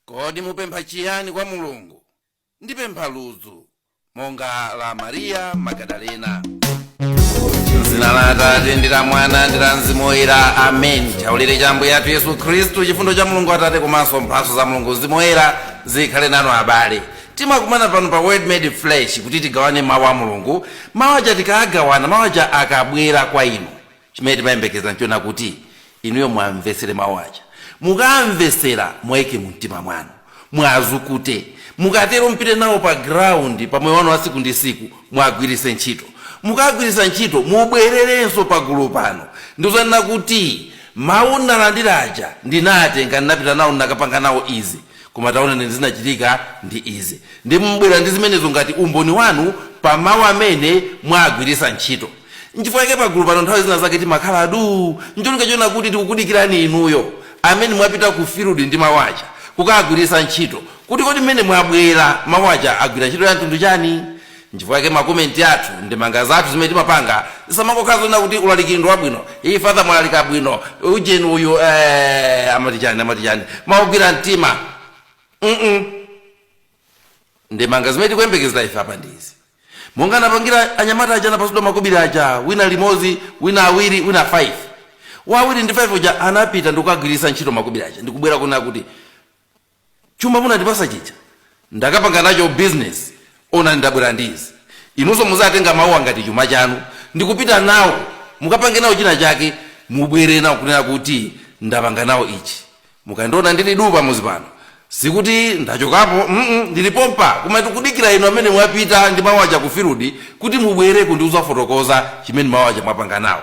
Kodi mupempha chiyani kwa Mulungu? Ndipempha ludzu monga la Mariya Magadalena. M'dzina la Atate ndi la Mwana ndi la Mzimu Woyera. Amen. Chaulere cha Ambuye athu Yesu Khristu, chifundo cha Mulungu Atate komanso mphatso za Mulungu Mzimu Woyera zikhale nanu abale. Timakumana pano pa Word Made Flesh kuti tigawane mawu a Mulungu. Mawu aja tikagawana, mawu aja akabwera kwa inu. Chimene timayembekeza nchona kuti inuyo muamvesere mau aja. Mukaamvesera muaike mumtima mwanu. Muazukute. Mukatero mupite nawo pa ground pa moyo wanu wa siku ndi siku muagwirise ntchito. Mukaagwirisa ntchito mubwererenso pa gulu pano ndikuzanena kuti mau mnalandira aja ndinaatenga nnapita nawo nnakapanga nawo izi. Koma taona zinachitika ndi izi. Ndiye mubwera ndi zimenezo ngati umboni wanu pa mawu amene mwaagwiritsa ntchito. Nchifukwa chake pagulu pano nthawi zina zake timakhala duu ncholinga choona kuti tikukudikirani inuyo amene mwapita ku field ndi mawu aja kukaagwiritsa ntchito kuti kodi mmene mwabwera mawu aja agwira ntchito ya mtundu chani? Nchifukwa chake ma comment athu, ndemanga zathu zimene timapanga zisamangokhala zonena kuti ulaliki ndi wabwino, ii father mwalalika bwino, ujeni uyu eeh amati chani amati chani, mau ogwira mtima mm ndemanga zimene tikuyembekezera ife apa ndi izi monga anapangira anyamata aja anapatsidwa makobiri aja wina limodzi wina awiri wina 5 wawiri ndi 5 uja anapita ndikukagwiritsa ntchito makobiri aja ndikubwera kunena kuti Chuma munandipasa chija ndakapanga nacho business onani ndabwera ndi izi. Inunso muzatenga mauwa ngati chuma chanu ndikupita nawo mukapange nawo china chake mubwere nawo kunena kuti ndapanga nawo ichi. Mukandiona ndili duu pamuzi pano sikuti ndachokapo mm ndili pompa koma ndikudikira inu amene mwapita ndi mau aja ku field kuti mubwere kudzandifotokoza chimene mau aja mwapanga nawo.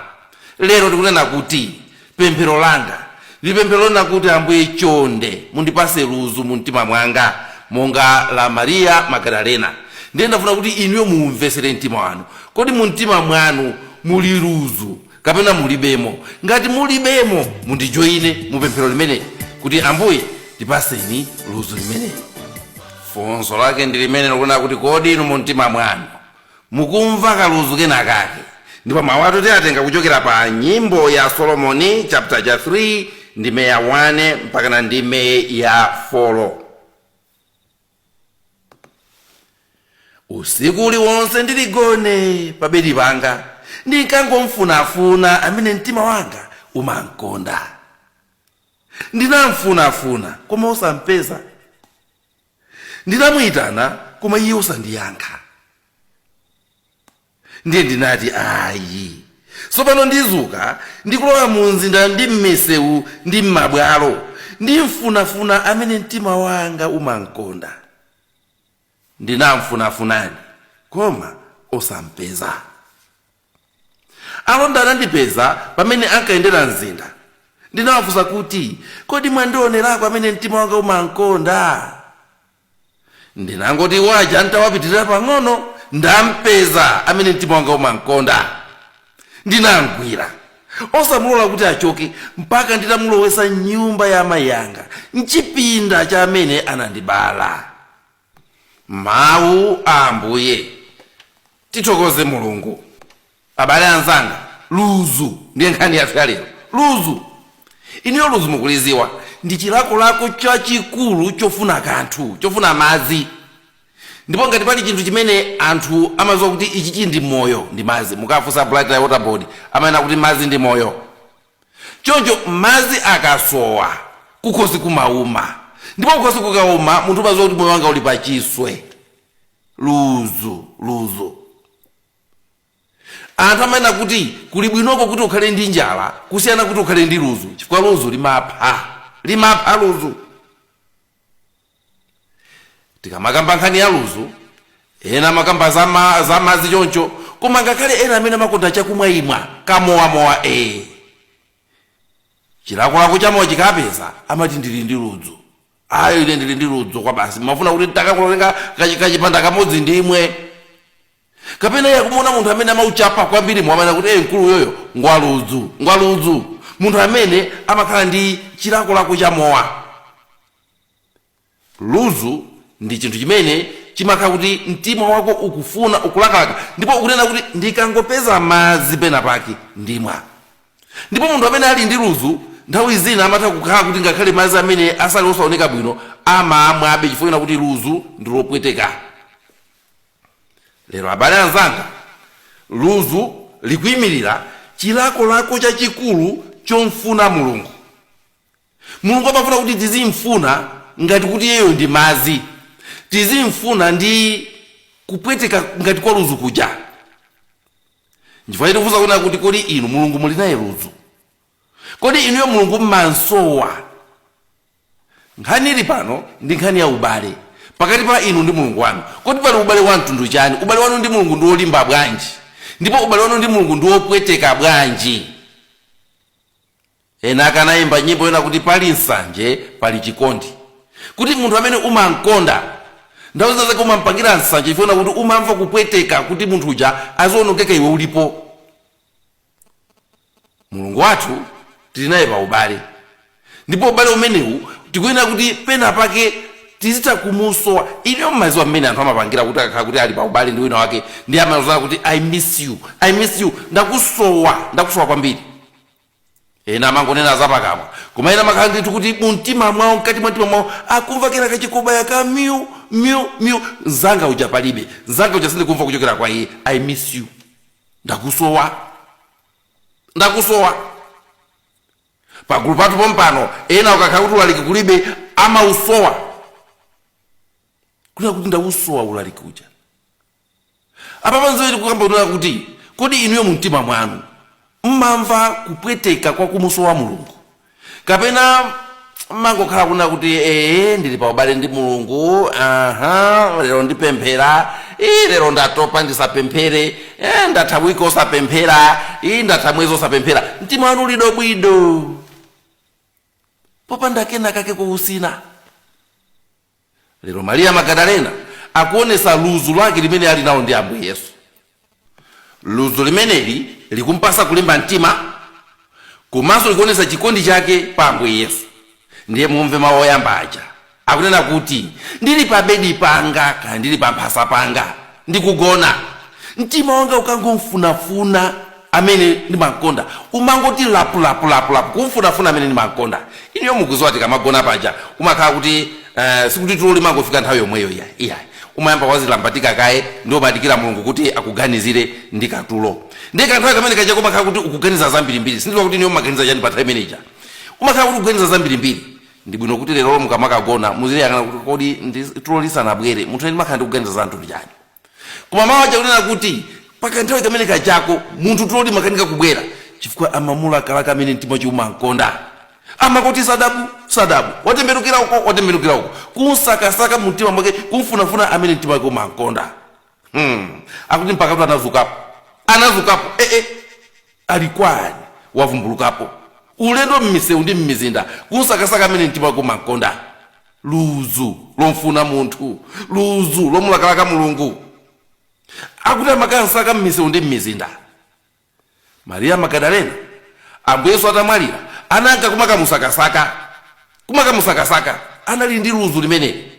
Lero ndikunena kuti pemphero langa ndi pemphero lonena kuti, Ambuye, chonde mundipatse ludzu mu mtima mwanga monga la Mariya Magadalena. Ndiye ndafuna kuti inuyo muumvetsere mtima wanu. Kodi mu mtima mwanu muli ludzu kapena mulibemo? Ngati mulibemo, mundijoine mu pemphero limeneli kuti, Ambuye, ndipatseni ludzu limeneli. Funso lake ndi limenelo kunena kuti, kodi inu mu mtima mwanu Mukumva kaludzu kenakake. Ndipo mawu athu tiatenga kuchokera pa Nyimbo ya Solomoni chapter cha 3 ndime ya 1 mpakana ndime ya folo. Usiku uliwonse ndili gone pa bedi panga ndinkangomfunafuna amene mtima wanga umamkonda. Ndinamfunafuna koma osampeza. ndinamuitana koma iye osandiyankha ndiye ndinati ayi tsopano ndidzuka ndikulowa mu mzinda ndi m'misewu ndi m'mabwalo ndimfunafuna amene mtima wanga umamkonda ndinamfunafunani koma osampeza Alonda anandipeza pamene ankayendera mzinda. Ndinawafunsa kuti, Kodi mwandionerako amene mtima wanga umam'konda? Ndinangoti awo aja n'tawapitirira pang'ono, ndam'peza amene mtima wanga umam'konda. Ndinam'gwira, osamulola kuti achoke mpaka nditamulowetsa m'nyumba ya amayi anga, m'chipinda cha amene anandibala. mawu a ambuye tithokoze mulungu abale anzanga luzu ndiye nkhani yathu ya lero luzu iniyo luzu mukuliziwa ndi chilakolako chachikulu chofuna kanthu chofuna madzi ndipo ngati pali chinthu chimene anthu amaziwa kuti ichi chili ndi moyo ndi madzi mukafunsa blantyre water board amanena kuti madzi ndi moyo Choncho madzi akasowa, kukhosi kumauma. Ndipo kukhosi kukauma, munthu umadziwa kuti moyo wanga uli pachiswe. Ludzu, ludzu. Anthu amanena kuti kuli bwinoko kuti ukhale ndi njala kusiyana kuti ukhale ndi ludzu, chifukwa ludzu limapha. Limapha ludzu. tikamakamba nkhani ya luzu ena amakamba za ma- za madzi choncho koma ngakhale ena amene amakonda chakumwaimwa kamowamowa ee chilakolako chamowa chikawapeza amati ndili ndi ludzu ayi ine ndili ndi ludzu kwa basi ndimafuna kuti ndakakulolenga kachi- kachipanda kamodzi ndimwe kapena iye akumuona munthu amene amauchapa kwambiri mumanena kuti "Eh, mkulu uyoyu ngwaludzu ngwaludzu munthu amene amakhala ndi chilakolako chamowa ludzu ndi chinthu chimene chimakhala kuti mtima wako ukufuna ukulakalaka ndipo ukunena kuti ndikangopeza madzi pena pake ndimwa ndipo munthu amene ali ndi ludzu nthawi zina amatha kukhala kuti ngakhale madzi amene asali osaoneka bwino amamwabe chifukwa chonena kuti ludzu ndi lopweteka lero abale anzanga ludzu likuyimirira chilakolako chachikulu chomfuna mulungu Mulungu amafuna kuti tizim'funa ngati kuti iyeyo ndi madzi, tizim'funa ndi kupweteka ngati kwa ludzu kuja. Nchifukwa chake tikufunsa kunena kuti kodi inu Mulungu muli naye ludzu? Kodi inuyo Mulungu m'mam'sowa? Nkhani ili pano ndi nkhani ya ubale pakati pa inu ndi Mulungu wanu. Kodi pali ubale wa mtundu chani? Ubale wanu ndi Mulungu ndi wolimba bwanji? Ndipo ubale wanu ndi Mulungu ndi wopweteka bwanji? Ena ake anaimba nyimbo yonena kuti pali nsanje pali chikondi, kuti munthu amene umamkonda nthawi zina zake umampangira nsanje chifukwa chonena kuti umamva kupweteka kuti munthu uja aziwonongeka iwe ulipo. Mulungu wathu tili naye pa ubale, ndipo ubale umenewu tikuyenera kuti pena pake tizitha kumusowa. Inuyo mumadziwa mmene anthu amapangira kuti akakhala kuti ali pa ubale ndi winawake ndiye amazonena kuti I miss you, I miss you, ndakusowa, ndakusowa kwambiri. ena amangonena zapakamwa koma ena amakhala ndithu kuti mumtima mwawo mkati mwa mtima mwawo akumva kena kake kukubaya ka miu miu miu mzanga uja palibe mzanga uja sindikumva kuchokera kwa iye I miss you ndakusowa ndakusowa pagulu pathu pompano ena ukakhala kuti ulaliki kulibe amausowa kunena kuti ndausowa ulaliki uja apapa nzimene tikukamba kunena kuti kodi inuyo mu mtima mwanu mmamva kupweteka kwa kumusowa mulungu kapena mmangokhala kunena kuti ee ndili pa ubale ndi mulungu aha lero ndipemphera ii lero ndatopa ndisapemphere e, ndatha wiki osapemphera ii ndatha mwezi osapemphera mtima wanu uli dobwidobwi popanda kena kake kuutsina lero mariya magadalena akuonetsa ludzu lake limene ali nawo ndi ambuye yesu ludzu limeneli likumpatsa kulimba mtima komanso likuonetsa chikondi chake pa ambuye yesu ndiye mumve mawu oyamba aja akunena kuti ndili pa bedi panga kaya ndili pa mphasa panga ndikugona mtima wanga ukangomfunafuna amene ndimamkonda umangoti lapu lapu lapu lapu kumfunafuna amene ndimamkonda inuyo mukudziwa tikamagona paja umakhala kuti eh, sikuti tulo limangofika nthawi yomweyo iyayi umayamba wadzilambatika kaye ndiye umadikira mulungu kuti akuganizire ndi katulo ndiye kanthawi kamene kaja kumakhala kuti ukuganiza zambirimbiri sindidziwa kuti inuyo mumaganiza chani pa nthawi imene ija umakhala kuti ukuganiza zambirimbiri ndi bwino kuti lero mukamakagona muzidziyang'ana kuti kodi ndi- tulo lisanabwere munthu ine ndimakhala ndikuganiza zinthu za chani koma mawu aja akunena kuti pakanthawi kamene kajako munthu tulo timakanika kubwera chifukwa amamulakalaka amene mtima wake umankonda amangoti sadabu sadabu watembenukira uko watembenukira uko kumsakasaka mumtima mwake kumfunafuna amene mtima wake umankonda hmm. akuti mpakatu anadzukapo anadzukapo ee eh, eh. ali kuti wavumbulukapo ulendo mmisewu ndi mmizinda kumsakasaka amene mtima wake umankonda ludzu lomfuna munthu ludzu lomulakalaka mulungu akuti amakamsaka m'misewu ndi m'mizinda mariya magadalena ambuye yesu atamwalira ananka kumakamusakasaka kumakamusakasaka anali ndi ludzu limeneli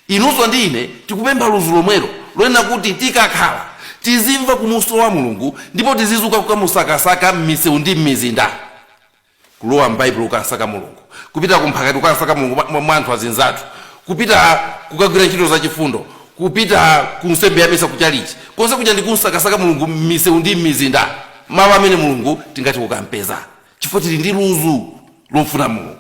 inunso ndi ine tikupempha ludzu lomwelo lonena kuti tikakhala tizimva kumusowa mulungu ndipo tizizuka kukamusakasaka m'misewu ndi m'mizinda Kulowa m'Baibulo kukasaka Mulungu, kupita ku mphakati kukamsaka Mulungu mwa anthu azinzathu, kupita kukagwira ntchito za chifundo, kupita ku nsembe ya misa ku chalichi, konse kuja ndi kumsakasaka Mulungu m'misewu ndi m'mizinda, malo amene Mulungu tingathe kukampeza, chifukwa tili ndi luzu lomfuna Mulungu.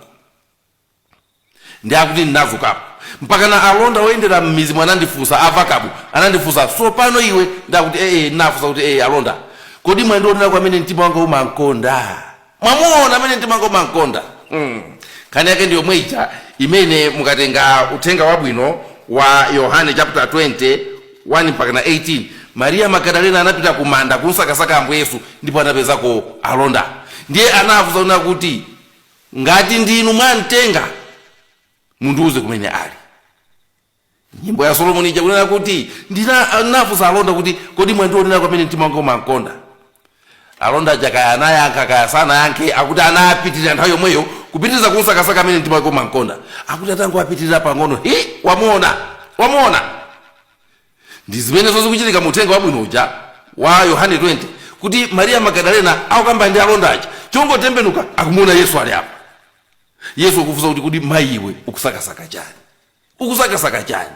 ndi akuti ndinazukapo mpakana alonda oyendera m'mizimu anandifunsa avakabu anandifunsa tsopano iwe ndi akuti ee ndinafunsa kuti ee alonda kodi mwandionera kwa amene mtima wanga umankonda mwamuona amene mtima wanga umankonda mm. nkhani yake ndi yomwe ija imene mukatenga uthenga wabwino wa yohane chapter 20 1 mpaka na 18 mariya magadalena anapita ku manda kumsakasaka ambuye yesu ndipo anapezako alonda ndiye anafunsa kunena kuti Ngati ndi inu mwamtenga, mundiuze kumene ali. Nyimbo ya Solomoni ija kunena kuti, ndinafunsa alonda kuti, kodi mwandionera kwa amene mtima wanga umankonda? Alonda aja kaya anayankha kaya sanayankhe, akuti anapitirira nthawi yomweyo kupitiriza kumsakasaka amene mtima wake umankonda. Akuti atangowapitirira pang'ono, hi, wamuona, wamuona! ndi zimenezo zikuchitika mu uthenga wabwino uja wa yohane 20 kuti mariya magadalena akukamba ndi alonda aja chongotembenuka akumuona yesu ali apa yesu akufunsa kuti kodi mayi iwe ukusakasaka chani ukusakasaka chani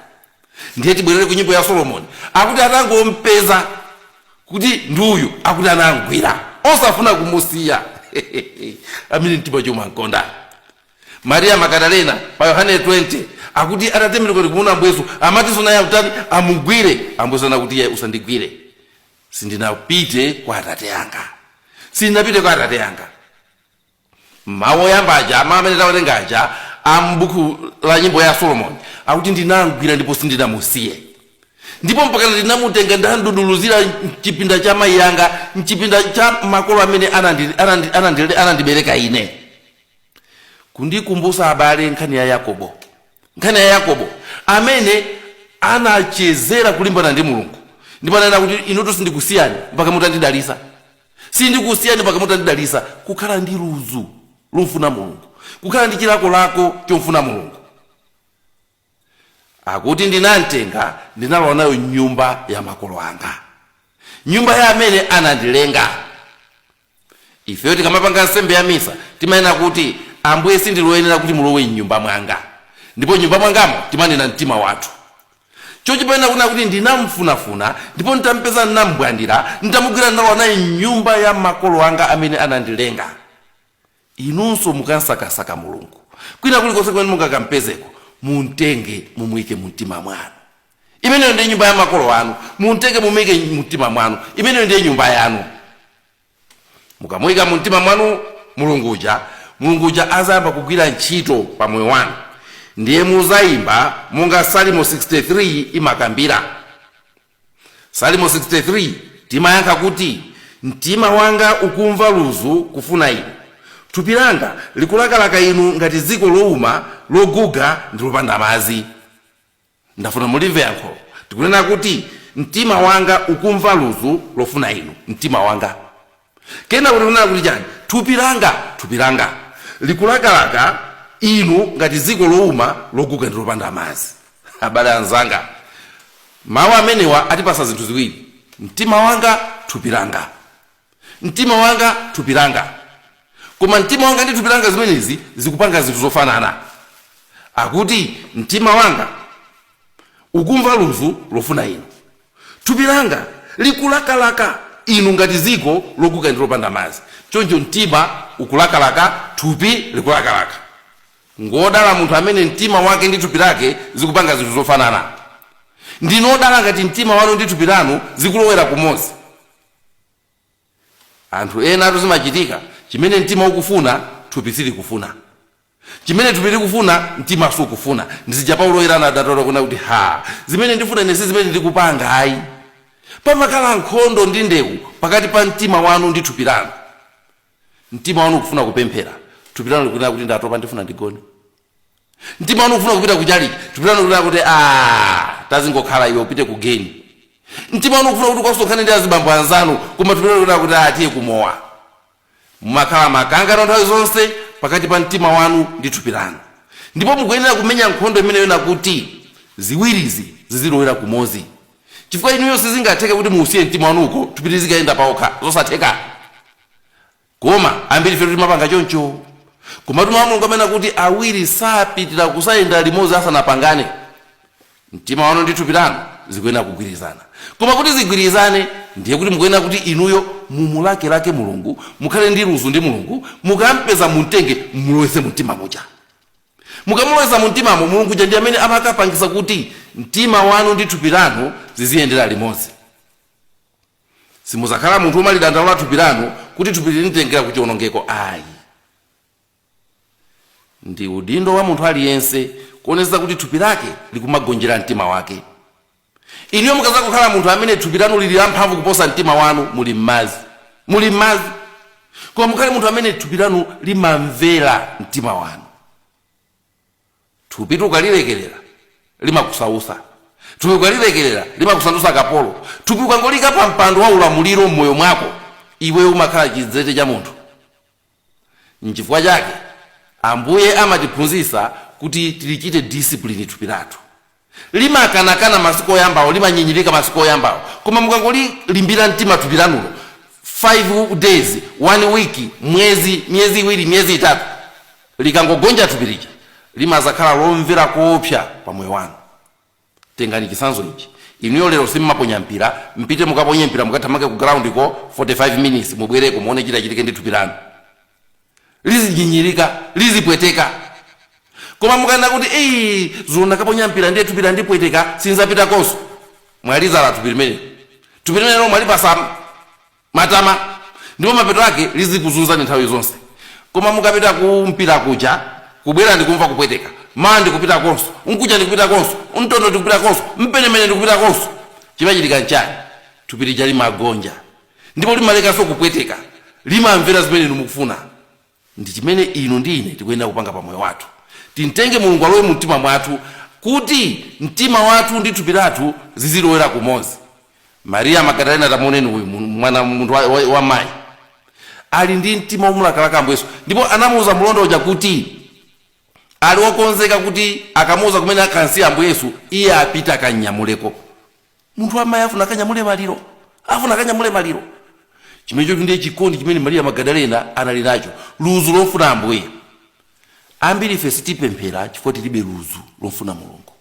ndiye tibwerere ku nyimbo ya solomoni akuti atangompeza kuti ndi uyu akuti anamgwira osafuna kumusiya amene mtima umamkonda Maria Magadalena pa Yohane 20 akuti atatembenuka ndikumuona Ambuyesu amatinso naye akutani amugwire. Ambuyesu anena kuti iwe usandigwire, sindinapite kwa Atate anga, sindinapite kwa Atate anga. Mawu oyamba aja mawu amene tawerenga aja a m'buku la nyimbo ya Solomoni akuti ndinamgwira ndipo sindinamusiye ndipo mpaka ndinamutenga ndamduduluzira mchipinda cha mayi anga mchipinda cha makolo amene anandi- anandi- anandi- anandibereka ine kundikumbusa abale nkhani ya yakobo nkhani ya yakobo amene anachezera kulimbana ndi mulungu ndipo ananena kuti inutu sindikusiyani mpaka mutandidalisa sindikusiyani mpaka mutandidalisa kukhala ndi ludzu lomfuna mulungu kukhala ndi chilakolako chomfuna mulungu akuti ndinamtenga ndinalowa naye mnyumba ya makolo anga nyumba ya amene anandilenga ifeyo tikamapanga nsembe ya misa timanena kuti ambuye sindili woyenera kuti mulowe mnyumba mwanga ndipo mnyumba mwangamo timanena mtima wathu choncho poyenera kunena kuti ndinamfunafuna ndipo nditampeza ndinambwandira nditamugwira ndalowa naye mnyumba ya makolo anga amene anandilenga Inunso mukamsakasaka Mulungu kwina kulikonse kumene mungakampezeko, mumtenge mumuike mumtima mwanu. Imeneyo ndiye nyumba ya makolo anu. Mumtenge mumuike mumtima mwanu. Imeneyo ndiye nyumba yanu. Mukamuika mumtima mwanu Mulungu uja, Mulungu uja azayamba kugwira ntchito pa moyo wanu. Ndiye muzayimba monga Salimo 63 imakambira. Salimo 63 timayankha kuti, Mtima wanga ukumva ludzu kufuna Inu, thupi langa likulakalaka Inu ngati dziko louma, loguga, ndi lopanda madzi. Ndafuna mulimve yankho. Tikunena kuti, Mtima wanga ukumva ludzu lofuna Inu. Mtima wanga. Kenako tikunena kuti chani? Thupi langa, thupi langa likulakalaka Inu ngati dziko louma, loguga ndi lopanda madzi. Abale anzanga, mau amenewa atipatsa zinthu ziwiri, mtima wanga, thupi langa. Mtima wanga, thupi langa. Koma mtima wanga ndi thupi langa zimenezi zikupanga zinthu zofanana. Akuti, Mtima wanga ukumva ludzu lofuna Inu. Thupi langa likulakalaka Inu ngati dziko loguga ndi lopanda madzi. Choncho mtima ukulakalaka, thupi likulakalaka. Ngwodala munthu amene mtima wake ndi thupi lake zikupanga zinthu zofanana. Ndinu odala ngati mtima wanu ndi thupi lanu zikulowera kumodzi. Anthu enatu zimachitika, chimene mtima ukufuna, thupi silikufuna. Chimene thupi likufuna, mtima sukufuna. Ndi zija Paulo Woyera anadandaula kunena kuti, Ha! Zimene ndifuna ine si zimene ndikupanga ayi. Pamakhala nkhondo ndi ndewu pakati pa mtima wanu ndi thupi lanu. Mtima wanu ukufuna kupemphera, thupi lanu likunena kuti, Ndatopa, ndifuna ndigone. mtima wanu ukufuna kupita kutchalitchi thupi lanu likuti "Ah, tazingokhala iwe upite ku geni mtima wanu ukufuna kuti ukasonkhane ndi azibambo anzanu koma thupi lanu likuti "Ah, tiye kumowa mumakhala makangano nthawi zonse pakati pa mtima wanu ndi thupi lanu ndipo mukuyenera kumenya nkhondo imeneyo kuti ziwirizi zizilowera kumodzi chifukwa inuyo sizingatheke kuti muusiye mtima wanu uko thupi lizikayenda palokha zosatheka Koma ambirifetu timapanga choncho. Komatu Mawu a Mulungu amanena kuti awiri sapitira kuyendera limodzi asanapangane. Mtima wanu ndi thupi lanu zikuyenera kugwirizana. Koma kuti zigwirizane ndiye kuti mukuyenera kuti inuyo mumulakelake Mulungu, mukhale ndi luzu ndi Mulungu, mukam'peza mum'tenge mumulowetse mumtima muja. Mukamulowetsa mumtimamo, Mulungu uja ndi amene amakapangitsa kuti mtima wanu ndi thupi lanu ziziyendera limodzi. Simudzakhala munthu womalidandaulira thupi lanu kuti thupi linanditengera ku chionongeko ayi. Ndi udindo wa munthu aliyense kuonetsetsa kuti thupi lake likumagonjera mtima wake. Inuyo mukadzangokhala munthu amene thupi lanu lili lamphamvu kuposa mtima wanu, muli m'madzi. Muli m'madzi. Koma mukhale munthu amene thupi lanu limamvera mtima wanu. Thupitu ukalilekerera limakusausa. Thupi ukalilekerera limakusandutsa kapolo. Thupi ukangoliika pa mpando wa ulamuliro m'moyo mwako, iwe umakhala chidzete cha munthu. Nchifukwa chake Ambuye amatiphunzitsa kuti tilichite discipline thupi lathu. Limakanakana masiku oyambawo, limanyinyirika masiku oyambawo, koma mukangolimbira mtima thupi lanulo, 5 days, 1 week, mwezi, miyezi iwiri, miyezi itatu, likangogonja thupi lija, limazakhala lomvera koopsa pa moyo wanu. Tengani chitsanzo ichi, inuyo lero simumaponya mpira, mpite mukaponye mpira, mukathamange ku ground ko 45 minutes, mubwereko muone chitachitike ndi thupi lanu. lizinyinyirika lizipweteka koma mukanena kuti eyi zulo ndakaponya mpira ndiye thupi landipweteka sinzapitakonso mwalizolowetsa thupi limenelo thupi limenelo mwalipasa matama ndipo mapeto ake lizikuzunzani nthawi zonse koma mukapita ku mpira kuja kubwera ndikumva kupweteka mawa ndikupitakonso nkuja ndikupitakonso mtondo ndikupitakonso mpenemene ndikupitakonso chimachitika nchani thupi lija limagonja ndipo limalekanso kupweteka, limamvera zimene inu mukufuna. Ndi chimene inu ndi ine tikuyenera kupanga pa moyo wathu. Timtenge Mulungu alowe mu mtima mwathu, kuti mtima wathu ndi thupi lathu zizilowera kumodzi. Maria Magadalena, tamuoneni uyu mu- mwana munthu wa, wa, wa mayi ali ndi mtima womulakalaka Ambuye Yesu, ndipo anamuuza mlonda uja kuti ali wokonzeka kuti akamuuza kumene akansiya Ambuye Yesu, iye apita akanyamuleko. munthu wamayi afuna akanyamule maliro afuna akanyamule maliro chimenecho ndiye chikondi chimene mariya magadalena anali nacho luzu lofuna ambuye ambiri ife sitipemphera chifukwa tilibe luzu lofuna mulungu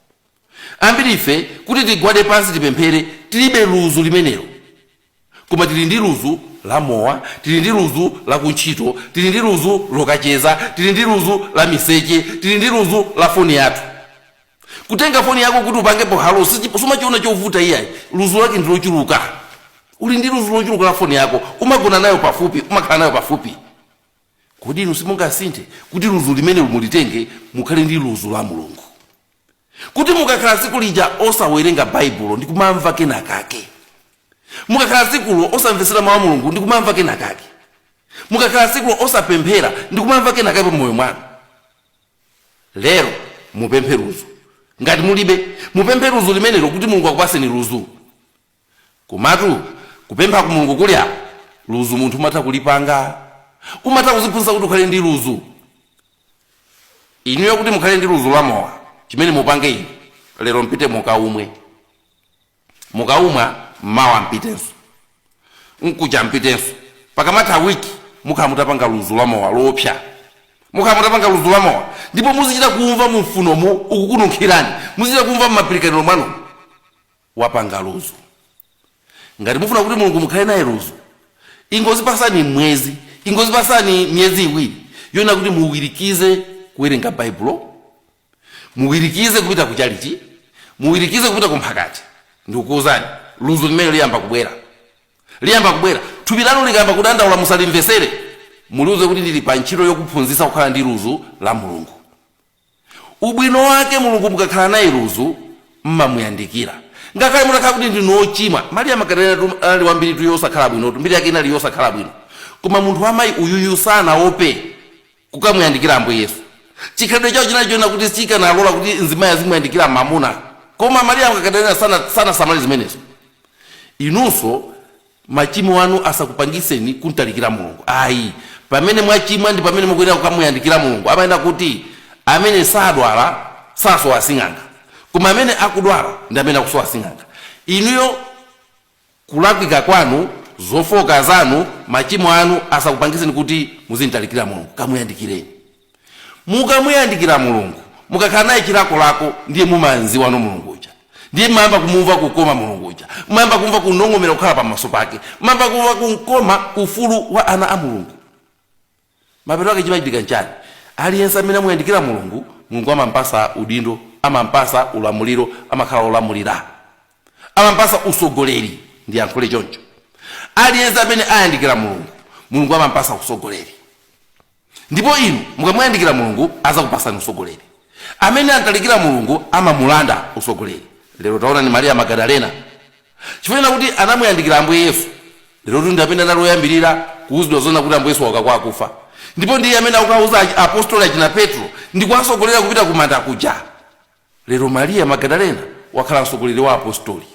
ambiri ife kuti tigwade pansi tipemphere tilibe luzu limenelo koma tili ndi luzu la mowa tili ndi luzu la kuntchito tili ndi luzu lokacheza tili ndi luzu la miseche tili ndi luzu la foni yathu kutenga foni yako kuti upangepo halo sichi- sumachiona chovuta iyayi luzu lake ndi lochuluka uli ndi luzu lochuluka la foni yako umagona nayo pafupi umakhala nayo pafupi kodi inu simungasinthe kuti luzu limenelo mulitenge mukhale ndi luzu la mulungu kuti mukakhala tsiku lija osawerenga baibulo ndi kumamva kenakake mukakhala tsikulo osamvetsera mawu a mulungu ndi kumamva kenakake mukakhala tsikulo osapemphera ndi kumamva kenakake pa moyo mwanu lero mupemphe luzu ngati mulibe mupemphe luzu limenelo kuti mulungu akupaseni luzu Komatu kupempha ku Mulungu kuli apo, luzu munthu umatha kulipanga. Umatha kuziphunzitsa kuti ukhale ndi luzu. Inuyo kuti mukhale ndi luzu la mowa, chimene mupange inu, lero mpite mukaumwe. Mukaumwa, mawa mpitenso. Mkucha mpitenso. Pakamatha wiki, mukhala mutapanga luzu la mowa loopsa. Mukhala mutapanga luzu la mowa ndipo muzichita kuumva mumfunomu ukukununkhirani. Muzichita kuumva m'mapilikaniro mwanumu. wapanga luzu ngati mufuna kuti mulungu mukhale naye luzu ingozipasani mwezi ingozipasani miyezi iwiri yonena kuti muwirikize kuwerenga baibulo muwirikize kupita kuchalichi muwirikize kupita kumphakati ndikukuuzani luzu limene liyamba kubwera liyamba kubwera thupi lanu likayamba kudandaula musalimvesere muliuze kuti ndili pa ntchito yokuphunzitsa kukhala ndi luzu la mulungu ubwino wake mulungu mukakhala naye luzu mmamuyandikira ngakhale mutakhala kuti ndinu ochimwa mariya magadalena tu- anali wambiri tu yosakhala bwino tu mbiri yake inali yosakhala bwino koma munthu wamayi uyuyu sanaope kukamuyandikira ambuye yesu chikhalidwe chawo chinali chonena kuti sikanalola kuti mzimayi azimuyandikira mamuna koma mariya magadalena sana- sanasamale zimenezo inunso Machimo anu asakupangitseni kuntalikira Mulungu ayi. Pamene mwachimwa ndi pamene mukuyenera kukamuyandikira Mulungu. Amanena kuti amene sadwala sasowa sing'anga. Koma amene akudwala ndi amene akusowa sing'anga. Inuyo kulakwika kwanu, zofooka zanu, machimo anu asakupangitseni kuti muzintalikira Mulungu. Kamuyandikireni. Mukamuyandikira Mulungu, mukakhala naye chilakolako ndiye mumamziwa Mulungu uja. Ndiye mmayamba kumumva kukoma Mulungu uja. Mmayamba kumva kunong'omera kukhala pamaso pake. Mmayamba kumva kukoma ufulu wa ana a Mulungu. Mapeto ake chimachitika nchani? Aliyense amene amuyandikira Mulungu, Mulungu amampasa udindo, amampasa ulamuliro, amakhala olamulira. Amampasa usogoleri, ndiyankhule choncho. Aliyense amene ayandikira Mulungu, Mulungu amampasa usogoleri. Ndipo inu mukamuyandikira Mulungu, azakupasani usogoleri. Amene amtalikira Mulungu, amamulanda usogoleri. Lero taonani Maria Magadalena. Chifukwa chona kuti anamuyandikira Ambuye Yesu, lerotu ndi amene anali oyambirira kuuzidwa zona kuti Ambuye Yesu wauka kwa akufa. Ndipo ndiye amene akukauza apostoli achina Petro ndi kuwasogolera kupita kumanda kuja. Lero Maria Magadalena wakhala msogoleri wa apostoli.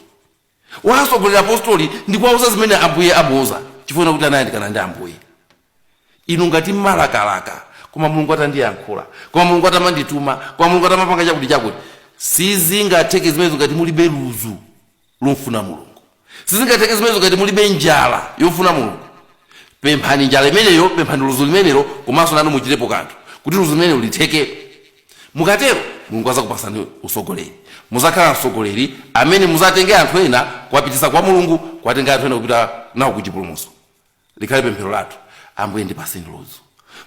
wasogolera apostoli ndi kuwauza zimene ambuye amuuza chifukwa chakuti anayandikana ndi ambuye inu ngati mmalakalaka koma mulungu atandiyankhula koma mulungu atamandituma koma mulungu atamapanga chakuti chakuti sizingatheke zimenezo ngati mulibe luzu lomfuna mulungu sizingatheke zimenezo ngati mulibe njala yofuna mulungu pemphani njala imeneyo pemphani luzu limenelo komanso nanu muchitepo kanthu kuti luzu limenelo litheke mukatero mulungu azakupasani usogoleri muzakhala msogoleri amene muzatenge anthu ena kuwapitisa kwa mulungu kuwatenga anthu ena kupita nawo ku chipulumuso likhale pemphero lathu ambuye ndipaseni luzu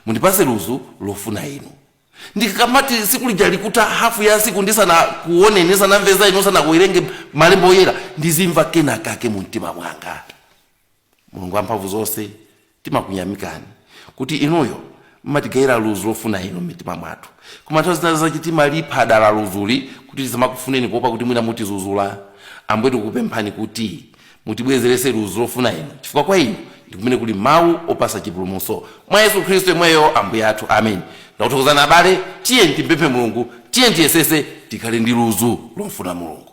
mundipase luzu lofuna inu ndikamati siku lija likuta hafu ya siku ndisanakuoneni ndisanamve za inu ndisanawerenge malembo oyera ndizimva kena kake mu mtima mwanga mulungu wamphamvu zonse timakunyamikani kuti inuyo mmatigawira luzu lofuna inu m'mitima mwathu koma nthawi zina zake timalipha dala luzuli kuti tisamakufuneni kuopa kuti mwina mutizuzula ambuye tikupemphani kuti mutibwezerese luzu lofuna inu chifukwa kwa inu ndi kumene kuli mawu opasa chipulumuso mwa yesu khristu yemweyo ambuye athu amen ndakuthokozani abale tiyeni timpemphe mulungu tiyeni tiyesese tikhale ndi luzu lomfuna mulungu